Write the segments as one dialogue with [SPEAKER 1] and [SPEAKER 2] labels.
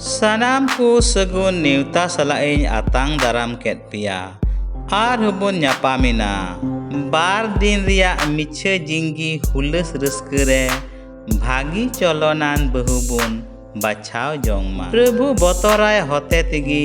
[SPEAKER 1] ᱥᱟᱱᱟᱢ ᱠᱚ ᱥᱟᱹᱜᱩᱱ ᱱᱮᱣᱛᱟ ᱥᱟᱞᱟᱜ ᱤᱧ ᱟᱛᱟᱝ ᱫᱟᱨᱟᱢ ᱠᱮᱫ ᱯᱮᱭᱟ ᱟᱨ ᱦᱚᱸᱵᱚᱱ ᱧᱟᱯᱟᱢᱮᱱᱟ ᱵᱟᱨ ᱫᱤᱱ ᱨᱮᱭᱟᱜ ᱢᱤᱪᱷᱟᱹ ᱡᱤᱝᱜᱤ ᱦᱩᱞᱟᱹᱥ ᱨᱟᱹᱥᱠᱟᱹ ᱨᱮ ᱵᱷᱟᱹᱜᱤ ᱪᱚᱞᱚᱱᱟᱱ ᱵᱟᱹᱦᱩ ᱵᱚᱱ ᱵᱟᱪᱷᱟᱣ ᱡᱚᱝ ᱢᱟ ᱯᱨᱚᱵᱷᱩ ᱵᱚᱛᱚᱨᱟᱭ ᱦᱚᱛᱮ ᱛᱮᱜᱮ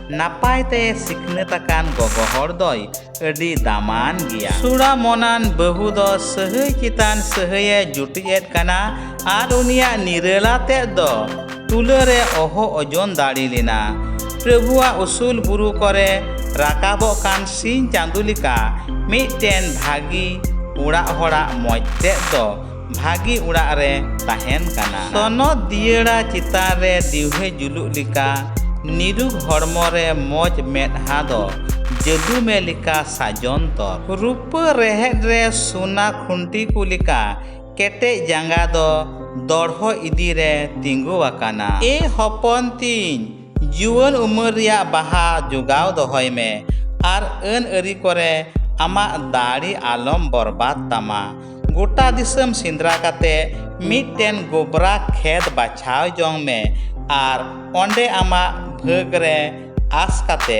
[SPEAKER 1] ᱱᱟᱯᱟᱭ ᱛᱮ ᱥᱤᱠᱷᱱᱟᱹᱛ ᱟᱠᱟᱱ ᱜᱚᱜᱚ ᱦᱚᱲ ᱫᱚᱭ ᱟᱹᱰᱤ ᱫᱟᱢᱟᱱ ᱜᱮᱭᱟ ᱥᱩᱲᱟ ᱢᱚᱱᱟᱱ ᱵᱟᱹᱦᱩ ᱫᱚ ᱥᱟᱹᱦᱟᱹᱭ ᱪᱮᱛᱟᱱ ᱥᱟᱹᱦᱟᱹᱭᱮ ᱡᱩᱴᱤᱡᱮᱫ ᱠᱟᱱᱟ ᱟᱨ ᱩᱱᱤᱭᱟᱜ ᱱᱤᱨᱟᱹᱞᱟ ᱛᱮᱫ ᱫᱚ ᱛᱩᱞᱟᱹ ᱨᱮ ᱚᱦᱚ ᱚᱡᱚᱱ ᱫᱟᱲᱮ ᱞᱮᱱᱟ ᱯᱨᱚᱵᱷᱩᱣᱟᱜ ᱩᱥᱩᱞ ᱵᱩᱨᱩ ᱠᱚᱨᱮ ᱨᱟᱠᱟᱵᱚᱜ ᱠᱟᱱ ᱥᱤᱧ ᱪᱟᱸᱫᱚ ᱞᱮᱠᱟ ᱢᱤᱫᱴᱮᱱ ᱵᱷᱟᱹᱜᱤ ᱚᱲᱟᱜ ᱦᱚᱲᱟᱜ ᱢᱚᱡᱽ ᱛᱮᱫ ᱫᱚ ᱵᱷᱟᱹᱜᱤ ᱚᱲᱟᱜ ᱨᱮ ᱛᱟᱦᱮᱱ ᱠᱟᱱᱟ᱾ ᱥᱚᱱᱚᱛ ᱫᱤᱭᱟᱹᱲᱟ ᱪᱮᱛᱟᱱ ᱨᱮ ᱫᱤᱣᱦᱮ ᱡᱩᱞᱩᱜ ᱞᱮᱠᱟ ᱱᱤᱨᱩᱠ ᱦᱚᱲᱢᱚ ᱨᱮ ᱢᱚᱡᱽ ᱢᱮᱫᱦᱟ ᱫᱚ ᱡᱟᱹᱫᱩ ᱢᱮ ᱞᱮᱠᱟ ᱥᱟᱡᱚᱱ ᱛᱚᱨ᱾ ᱨᱩᱯᱟᱹ ᱨᱮᱦᱮᱫ ᱨᱮ ᱥᱚᱱᱟ ᱠᱷᱩᱱᱴᱤ ᱠᱚ ᱞᱮᱠᱟ ᱠᱮᱴᱮᱡ ᱡᱟᱸᱜᱟ ᱫᱚ ᱫᱚᱲᱦᱚ ᱤᱫᱤ ᱨᱮ ᱛᱤᱸᱜᱩ ᱟᱠᱟᱱᱟ᱾ ᱮ ᱦᱚᱯᱚᱱ ᱛᱤᱧ! ᱡᱩᱣᱟᱹᱱ ᱩᱢᱮᱨ ᱨᱮᱭᱟᱜ ᱵᱟᱦᱟ ᱡᱚᱜᱟᱣ ᱫᱚᱦᱚᱭ ᱢᱮ ᱟᱨ ᱟᱹᱱ ᱟᱹᱨᱤ ᱠᱚᱨᱮ ᱟᱢᱟᱜ ᱫᱟᱲᱮ ᱟᱞᱚᱢ ᱵᱚᱨᱵᱟᱫᱽ ᱛᱟᱢᱟ᱾ ᱜᱚᱴᱟ ᱫᱤᱥᱚᱢ ᱥᱮᱸᱫᱽᱨᱟ ᱠᱟᱛᱮ ᱢᱤᱫᱴᱮᱱ ᱜᱚᱵᱽᱨᱟ ᱠᱷᱮᱛ ᱵᱟᱪᱷᱟᱣ ᱡᱚᱝ ᱢᱮ ᱟᱨ ᱚᱸᱰᱮ ᱟᱢᱟᱜ ᱵᱷᱟᱹᱜᱽ ᱨᱮ ᱟᱸᱥ ᱠᱟᱛᱮ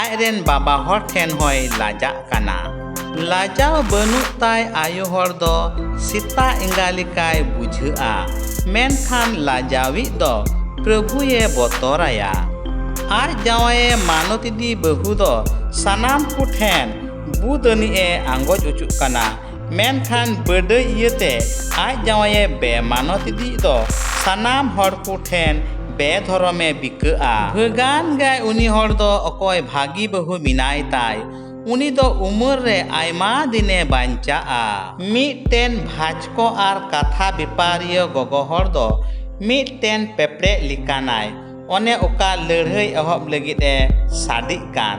[SPEAKER 1] ᱟᱡ ᱨᱮᱱ ᱵᱟᱵᱟ ᱦᱚᱲ ᱴᱷᱮᱱ ᱦᱚᱸᱭ ᱞᱟᱡᱟᱜ ᱠᱟᱱᱟ ᱞᱟᱡᱟᱣ ᱵᱟᱹᱱᱩᱜ ᱛᱟᱭ ᱟᱭᱳ ᱦᱚᱲ ᱫᱚ ᱥᱮᱛᱟ ᱮᱸᱜᱟ ᱞᱮᱠᱟᱭ ᱵᱩᱡᱷᱟᱹᱜᱼᱟ ᱢᱮᱱᱠᱷᱟᱱ ᱞᱟᱡᱟᱣᱤᱡ ᱫᱚ ᱯᱨᱚᱵᱷᱩᱭᱮ ᱵᱚᱛᱚᱨᱟᱭᱟ ᱟᱡ ᱡᱟᱶᱟᱭᱮ ᱢᱟᱱᱚᱛ ᱤᱫᱤ ᱵᱟᱹᱦᱩ ᱫᱚ ᱥᱟᱱᱟᱢ ᱠᱚ ᱴᱷᱮᱱ ᱵᱩᱫ ᱟᱹᱱᱤᱡ ᱮ ᱟᱸᱜᱚᱪ ᱚᱪᱚᱜ ᱠᱟᱱᱟ ᱢᱮᱱᱠᱷᱟᱱ ᱵᱟᱹᱰᱟᱹᱭᱤᱭᱟᱹ ᱛᱮ ᱟᱡ ᱡᱟᱶᱟᱭᱮ ᱵᱮᱼᱢᱟᱱᱚᱛ ᱤᱫᱤᱭᱤᱡ ᱫᱚ ᱥᱟᱱᱟᱢ ᱦᱚᱲ ᱠᱚ ᱴᱷᱮᱱ ᱵᱮᱼᱫᱷᱚᱨᱚᱢ ᱮ ᱵᱤᱠᱟᱹᱜᱼᱟ᱾ ᱵᱷᱟᱹᱜᱟᱱ ᱜᱮᱭ ᱩᱱᱤ ᱦᱚᱲ ᱫᱚ ᱚᱠᱚᱭ ᱵᱷᱟᱹᱜᱤ ᱵᱟᱹᱦᱩ ᱢᱮᱱᱟᱭ ᱛᱟᱭ ᱩᱱᱤ ᱫᱚ ᱩᱢᱟᱹᱨ ᱨᱮ ᱟᱭᱢᱟ ᱫᱤᱱ ᱮ ᱵᱟᱧᱪᱟᱜᱼᱟ᱾ ᱢᱤᱫᱴᱮᱱ ᱵᱷᱟᱪᱠᱚ ᱟᱨ ᱠᱟᱛᱷᱟ ᱵᱮᱯᱟᱨᱤᱭᱟᱹ ᱜᱚᱜᱚ ᱦᱚᱲ ᱫᱚ ᱢᱤᱫᱴᱮᱱ ᱯᱮᱯᱲᱮᱡ ᱞᱮᱠᱟᱱᱟᱭ ᱚᱱᱮ ᱚᱠᱟ ᱞᱟᱹᱲᱦᱟᱹᱭ ᱮᱦᱚᱵ ᱞᱟᱹᱜᱤᱫ ᱮ ᱥᱟᱰᱮᱜ ᱠᱟᱱ᱾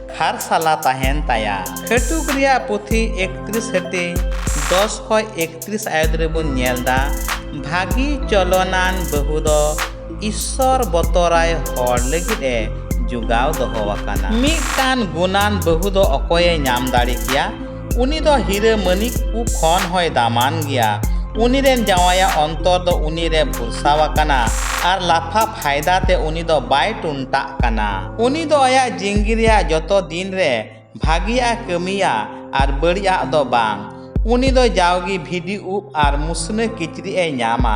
[SPEAKER 1] ᱠᱷᱟᱨᱥᱟᱞᱟ ᱛᱟᱦᱮᱱ ᱛᱟᱭᱟ ᱠᱷᱟᱹᱴᱩᱠ ᱨᱮᱭᱟᱜ ᱯᱩᱛᱷᱤ ᱮᱠᱛᱨᱤᱥ ᱦᱟᱹᱴᱤᱧ ᱫᱚᱥ ᱠᱷᱚᱡ ᱮᱠᱛᱨᱤᱥ ᱟᱭᱚᱛ ᱨᱮᱵᱚᱱ ᱧᱮᱞ ᱫᱟ ᱵᱷᱟᱹᱜᱤ ᱪᱚᱞᱚᱱᱟᱱ ᱵᱟᱹᱦᱩ ᱫᱚ ᱤᱥᱥᱚᱨ ᱵᱚᱛᱚᱨᱟᱭ ᱦᱚᱲ ᱞᱟᱹᱜᱤᱫ ᱮ ᱡᱚᱜᱟᱣ ᱫᱚᱦᱚ ᱟᱠᱟᱱᱟ ᱢᱤᱫᱴᱟᱝ ᱜᱩᱱᱟᱱ ᱵᱟᱹᱦᱩ ᱫᱚ ᱚᱠᱚᱭᱮ ᱧᱟᱢ ᱫᱟᱲᱮ ᱠᱮᱭᱟ ᱩᱱᱤ ᱫᱚ ᱦᱤᱨᱟᱹ ᱢᱟᱹᱱᱤᱠ ᱠᱚ ᱠᱷᱚᱱ ᱦᱚᱸᱭ ᱫᱟᱢᱟᱱ ᱜᱮᱭᱟ ᱩᱱᱤ ᱨᱮᱱ ᱡᱟᱶᱟᱭᱟᱜ ᱚᱱᱛᱚᱨ ᱫᱚ ᱩᱱᱤ ᱨᱮ ᱵᱷᱚᱨᱥᱟ ᱟᱠᱟᱱᱟ ᱟᱨ ᱞᱟᱯᱷᱟ ᱯᱷᱟᱭᱫᱟ ᱛᱮ ᱩᱱᱤ ᱫᱚ ᱵᱟᱭ ᱴᱩᱱᱴᱟᱜ ᱠᱟᱱᱟ ᱩᱱᱤ ᱫᱚ ᱟᱭᱟᱜ ᱡᱤᱱᱜᱤ ᱨᱮᱭᱟᱜ ᱡᱚᱛᱚ ᱫᱤᱱ ᱨᱮ ᱵᱷᱟᱹᱜᱤᱭᱟᱜ ᱮ ᱠᱟᱹᱢᱤᱭᱟ ᱟᱨ ᱵᱟᱹᱲᱤᱡᱟᱜ ᱫᱚ ᱵᱟᱝ ᱩᱱᱤ ᱫᱚ ᱡᱟᱣᱜᱮ ᱵᱷᱤᱰᱤ ᱩᱵ ᱟᱨ ᱢᱩᱥᱱᱟᱹ ᱠᱤᱪᱨᱤᱡ ᱮ ᱧᱟᱢᱟ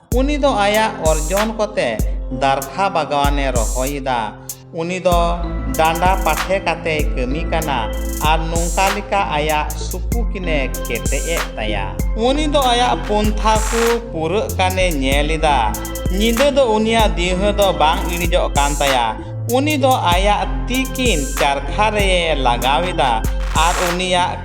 [SPEAKER 1] ᱩᱱᱤ ᱫᱚ ᱟᱭᱟᱜ ᱚᱨᱡᱚᱱ ᱠᱚᱛᱮ ᱫᱟᱨᱠᱷᱟ ᱵᱟᱜᱟᱣᱟᱱᱮ ᱨᱚᱦᱚᱭ ᱮᱫᱟ᱾ ᱩᱱᱤ ᱫᱚ ᱰᱟᱸᱰᱟ ᱯᱟᱴᱷᱮ ᱠᱟᱛᱮᱭ ᱠᱟᱹᱢᱤ ᱠᱟᱱᱟ ᱟᱨ ᱱᱚᱝᱠᱟ ᱞᱮᱠᱟ ᱟᱭᱟᱜ ᱥᱩᱯᱩᱠᱤᱱᱮ ᱠᱮᱴᱮᱡ ᱮᱫ ᱛᱟᱭᱟ᱾ ᱩᱱᱤ ᱫᱚ ᱟᱭᱟᱜ ᱯᱚᱱᱛᱷᱟ ᱠᱚ ᱯᱩᱨᱟᱹᱜ ᱠᱟᱱᱮ ᱧᱮᱞ ᱮᱫᱟ᱾ ᱧᱤᱫᱟᱹ ᱫᱚ ᱩᱱᱤᱭᱟᱜ ᱫᱤᱣᱦᱟᱹ ᱫᱚ ᱵᱟᱝ ᱤᱬᱤᱡᱚᱜ ᱠᱟᱱ ᱛᱟᱭᱟ᱾ ᱩᱱᱤ ᱫᱚ ᱟᱭᱟᱜ ᱛᱤ ᱠᱤᱱ ᱪᱟᱨᱠᱷᱟ ᱨᱮᱭᱮ ᱞᱟᱜᱟᱣ ᱮᱫᱟ ᱟᱨ ᱩᱱᱤᱭᱟᱜ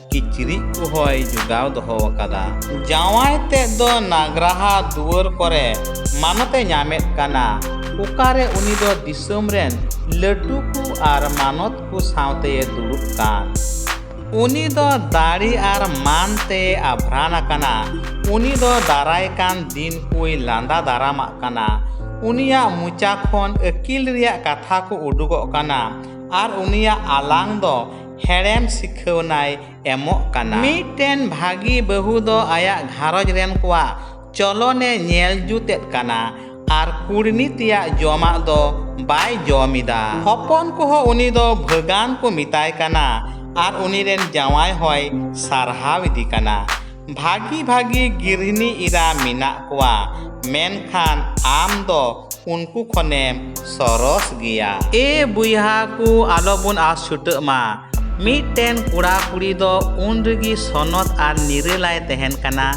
[SPEAKER 1] ᱠᱤᱪᱨᱤᱡ ᱠᱚᱦᱚᱸᱭ ᱡᱚᱜᱟᱣ ᱫᱚᱦᱚ ᱟᱠᱟᱫᱟ ᱡᱟᱶᱟᱭ ᱛᱮᱫ ᱫᱚ ᱱᱟᱜᱽᱨᱟᱦᱟ ᱫᱩᱣᱟᱹᱨ ᱠᱚᱨᱮ ᱢᱟᱱᱚᱛᱮ ᱧᱟᱢᱮᱫ ᱠᱟᱱᱟ ᱚᱠᱟᱨᱮ ᱩᱱᱤ ᱫᱚ ᱫᱤᱥᱚᱢ ᱨᱮᱱ ᱞᱟᱹᱴᱩ ᱠᱚ ᱟᱨ ᱢᱟᱱᱚᱛ ᱠᱚ ᱥᱟᱶᱛᱮ ᱫᱩᱲᱩᱵ ᱠᱟᱱ ᱩᱱᱤ ᱫᱚ ᱫᱟᱲᱮ ᱟᱨ ᱢᱟᱱ ᱛᱮ ᱟᱵᱷᱨᱟᱱ ᱟᱠᱟᱱᱟ ᱩᱱᱤ ᱫᱚ ᱫᱟᱨᱟᱭ ᱠᱟᱱ ᱫᱤᱱ ᱠᱚᱭ ᱞᱟᱸᱫᱟ ᱫᱟᱨᱟᱢᱟᱜ ᱠᱟᱱᱟ ᱩᱱᱤᱭᱟᱜ ᱢᱚᱪᱟ ᱠᱷᱚᱱ ᱟᱹᱠᱤᱞ ᱨᱮᱭᱟᱜ ᱠᱟᱛᱷᱟ ᱠᱚ ᱩᱰᱩᱠᱚᱜ ᱠᱟᱱᱟ ᱟᱨ ᱩᱱᱤᱭᱟᱜ ᱟᱞᱟᱝ ᱫᱚ ᱦᱮᱲᱮᱢ ᱥᱤᱠᱷᱟᱹᱣᱱᱟᱭ ᱮᱢᱚᱜ ᱠᱟᱱᱟ᱾ ᱢᱤᱫᱴᱮᱱ ᱵᱷᱟᱹᱜᱤ ᱵᱟᱹᱦᱩ ᱫᱚ ᱟᱭᱟᱜ ᱜᱷᱟᱨᱚᱸᱡᱽ ᱨᱮᱱ ᱠᱚᱣᱟᱜ ᱪᱚᱞᱚᱱᱮ ᱧᱮᱞ ᱡᱩᱛ ᱮᱫ ᱠᱟᱱᱟ ᱟᱨ ᱠᱩᱲᱢᱤ ᱛᱮᱭᱟᱜ ᱡᱚᱢᱟᱜ ᱫᱚ ᱵᱟᱭ ᱡᱚᱢ ᱮᱫᱟ᱾ ᱦᱚᱯᱚᱱ ᱠᱚᱦᱚᱸ ᱩᱱᱤ ᱫᱚ ᱵᱷᱟᱹᱜᱟᱱ ᱠᱚ ᱢᱮᱛᱟᱭ ᱠᱟᱱᱟ ᱟᱨ ᱩᱱᱤ ᱨᱮᱱ ᱡᱟᱶᱟᱭ ᱦᱚᱸᱭ ᱥᱟᱨᱦᱟᱣ ᱮᱫᱮ ᱠᱟᱱᱟ᱾ ᱵᱷᱟᱹᱜᱤ ᱵᱷᱟᱹᱜᱤ ᱜᱤᱨᱦᱤᱱᱤ ᱤᱨᱟ ᱢᱮᱱᱟᱜ ᱠᱚᱣᱟ ᱢᱮᱱᱠᱷᱟᱱ ᱟᱢ ᱫᱚ ᱩᱱᱠᱩ ᱠᱷᱚᱱᱮᱢ ᱥᱚᱨᱚᱥ ᱜᱮᱭᱟ᱾ ᱮ ᱵᱚᱭᱦᱟ ᱠᱚ ᱟᱞᱚ ᱵᱚᱱ ᱟᱥ ᱪᱷᱩᱴᱟᱹᱜ ᱢᱟ᱾ ᱢᱤᱫᱴᱮᱱ ᱠᱚᱲᱟ ᱠᱩᱲᱤ ᱫᱚ ᱩᱱ ᱨᱮᱜᱮ ᱥᱚᱱᱚᱛ ᱟᱨ ᱱᱤᱨᱟᱹᱞᱟᱭ ᱛᱟᱦᱮᱱ ᱠᱟᱱᱟ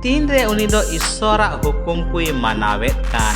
[SPEAKER 1] ᱛᱤᱱ ᱨᱮ ᱩᱱᱤ ᱫᱚ ᱤᱥᱥᱚᱨ ᱟᱜ ᱦᱩᱠᱩᱢ ᱠᱚᱭ ᱢᱟᱱᱟᱣᱮᱫ ᱠᱟᱱ᱾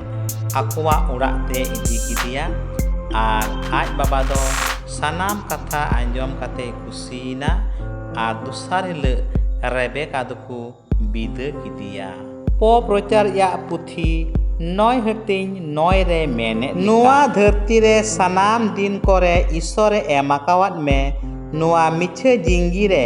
[SPEAKER 1] ᱟᱠᱚᱣᱟᱜ ᱚᱲᱟᱜ ᱛᱮ ᱤᱫᱤ ᱠᱮᱫᱮᱭᱟ ᱟᱨ ᱟᱡ ᱵᱟᱵᱟ ᱫᱚ ᱥᱟᱱᱟᱢ ᱠᱟᱛᱷᱟ ᱟᱸᱡᱚᱢ ᱠᱟᱛᱮ ᱠᱩᱥᱤᱭᱮᱱᱟ ᱟᱨ ᱫᱚᱥᱟᱨ ᱦᱤᱞᱟᱹᱜ ᱨᱮᱵᱮᱠᱟ ᱫᱚᱠᱚ ᱵᱤᱫᱟᱹ ᱠᱮᱫᱮᱭᱟ ᱯᱚᱯ ᱨᱚᱪᱟᱨ ᱭᱟᱜ ᱯᱩᱛᱷᱤ ᱱᱚᱭ ᱦᱟᱹᱴᱤᱧ ᱱᱚᱭ ᱨᱮ ᱢᱮᱱᱮᱫ ᱱᱚᱣᱟ ᱫᱷᱟᱹᱨᱛᱤ ᱨᱮ ᱥᱟᱱᱟᱢ ᱫᱤᱱ ᱠᱚᱨᱮ ᱤᱥᱚᱨᱮ ᱮᱢ ᱟᱠᱟᱣᱟᱫ ᱢᱮ ᱱᱚᱣᱟ ᱢᱤᱪᱷᱟᱹ ᱡᱤᱝᱜᱤ ᱨᱮ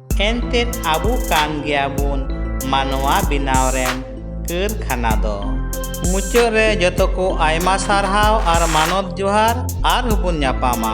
[SPEAKER 1] ᱮᱱᱛᱮᱫ ᱟᱵᱚ ᱠᱟᱱ ᱜᱮᱭᱟ ᱵᱚᱱ ᱢᱟᱱᱣᱟ ᱵᱮᱱᱟᱣ ᱨᱮᱱ ᱠᱟᱹᱨᱠᱷᱟᱱᱟ ᱫᱚ ᱢᱩᱪᱟᱹᱫ ᱨᱮ ᱡᱚᱛᱚ ᱠᱚ ᱟᱭᱢᱟ ᱥᱟᱨᱦᱟᱣ ᱟᱨ ᱢᱟᱱᱚᱛ ᱡᱚᱦᱟᱨ ᱟᱨ ᱦᱚᱸᱵᱚᱱ ᱧᱟᱯᱟᱢᱟ